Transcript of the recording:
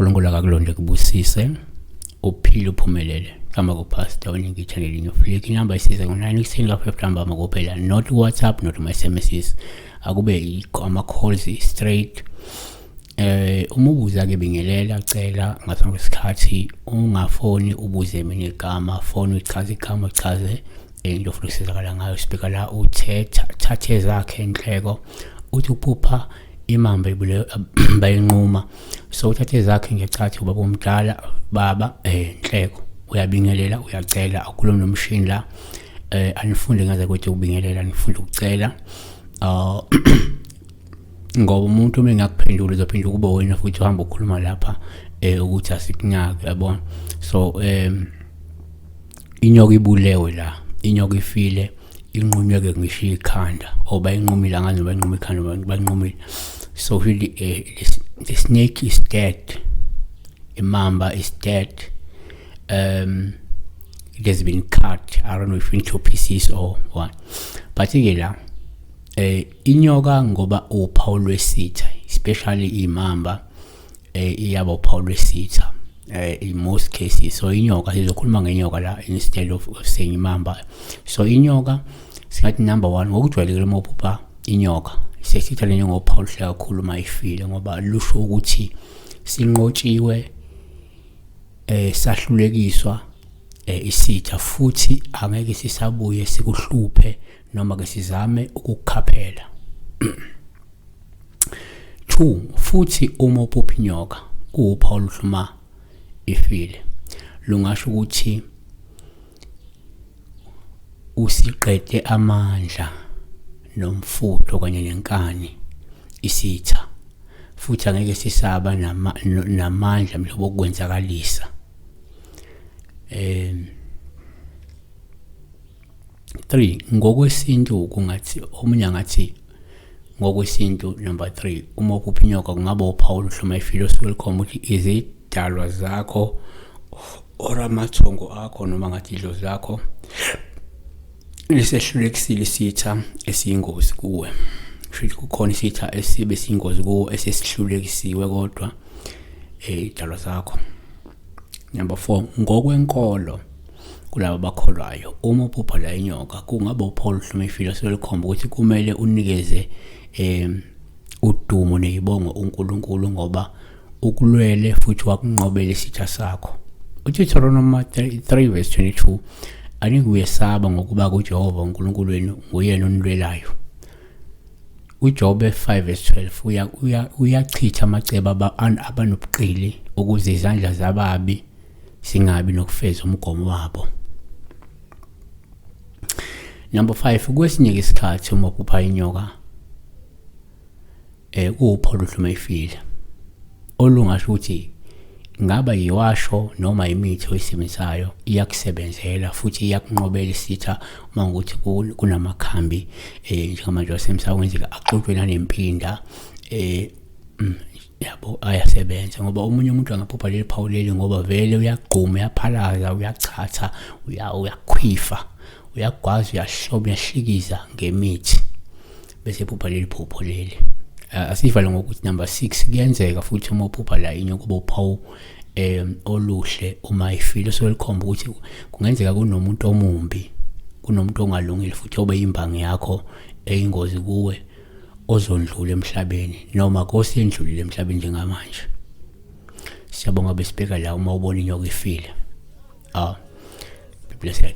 uNkulunkulu akakulonde kubusise uphile uphumelele hamba kupastor oningi channel inyo flick inamba isize ngo-9 ekuseni ka-5 hamba makuphela not whatsapp not ma-sms akube ama-calls straight Eh uma ubuza ke bingelela cela ngaphambi kwesikhathi ungafoni ubuze mina igama foni uchaze igama uchaze into ofuna ukusizakala ngayo sibheka la uthetha thathe zakhe inhleko uthi uphupha imamba ibule bayinquma so uthathe zakhe ngechathi ubaba omdala baba eh inhleko uyabingelela uyacela akhulume nomshini la eh anifunde ngaze ukuthi ubingelela anifunde ukucela uh ngoba umuntu uma engakuphendula uzophinda ukuba wena futhi uhamba ukhuluma lapha eh ukuthi asikunaki yabona so um inyoka ibulewe la inyoka ifile inqunyeke ngisho ikhanda or bayinqumile angazi noba inquma ikhanda bayinqumile so really uh, eh, the, the snake is dead imamba is dead um it has been cut i don't know if into pieces or what but ke la eh Inyoka ngoba uphawu lwesitha especially imamba eh iyaba uphawu lwesitha eh in most cases so inyoka sizokhuluma ngenyoka la instead of saying imamba so inyoka singathi number 1 ngokujwayelekile uma uphupha inyoka sesitha lenye ngophawu luhle kakhulu uma ifile ngoba lusho ukuthi sinqotshiwe eh sahlulekiswa eh, isitha futhi angeke sisabuye sikuhluphe noma ke sizame ukukukhaphela 2 futhi uma uphupha inyoka kuwuphawu oluhluma ifile lungasho ukuthi usiqede amandla nomfutho kanye nenkani isitha futhi angeke sisaba namandla mhlobo okwenzakalisa um 3 ngokwesintu kungathi omunye angathi ngokwesintu number 3 uma uphupha inyoka kungaba uphawu oluhloma ifile osuke likhomba ukuthi izidalwa zakho or amathongo akho noma ngathi idlozi lakho lisehlulekisile isitha esiyingozi kuwe kusho kukhona isitha esibe siyingozi kuwe esesihlulekisiwe kodwa um eh, idalwa zakho Number 4 ngokwenkolo kulabo bakholwayo uma uphupha la inyoka kungaba uPaul Hlumefile selukhomba ukuthi kumele unikeze em udumo nezibongo uNkulunkulu ngoba ukulwele futhi wakunqobela isitha sakho uDeuteronomy 3 verse 22 anikuyesaba ngokuba kuJehova uNkulunkulu wenu nguyena onilwelayo uJobe 5 verse 12 uyachitha amacebo abanobuqili ukuze izandla zababi singabi nokufeza umgomo wabo. Number 5 kwesinye isikhathi uma uphupha inyoka eh upho luhluma ifile olungasho ukuthi ngaba yiwasho noma imithi oyisebenzisayo iyakusebenzela futhi iyakunqobela isitha uma ukuthi kunamakhambi eh njengamanje wasemsamo kwenzeka axutshwe nanempinda eh mm, yabo ayasebenza ngoba omunye umuntu angaphupha leli phawu leli ngoba vele uyagquma uyaphalaza uyachatha uyakhwifa uyagwaza uyahloba uyahlikiza ngemithi bese phupha leli phupho leli uh, asivale ngokuthi number 6 kuyenzeka futhi uma uphupha la inye kuba uphawu um oluhle uma ifile solikhomba ukuthi kungenzeka kunomuntu omumbi kunomuntu ongalungile futhi obe imbangi yakho eyingozi kuwe ozondlula emhlabeni noma kosendlulile emhlabeni njengamanje siyabonga besibheka la uma ubona inyoka ifile ah be blessed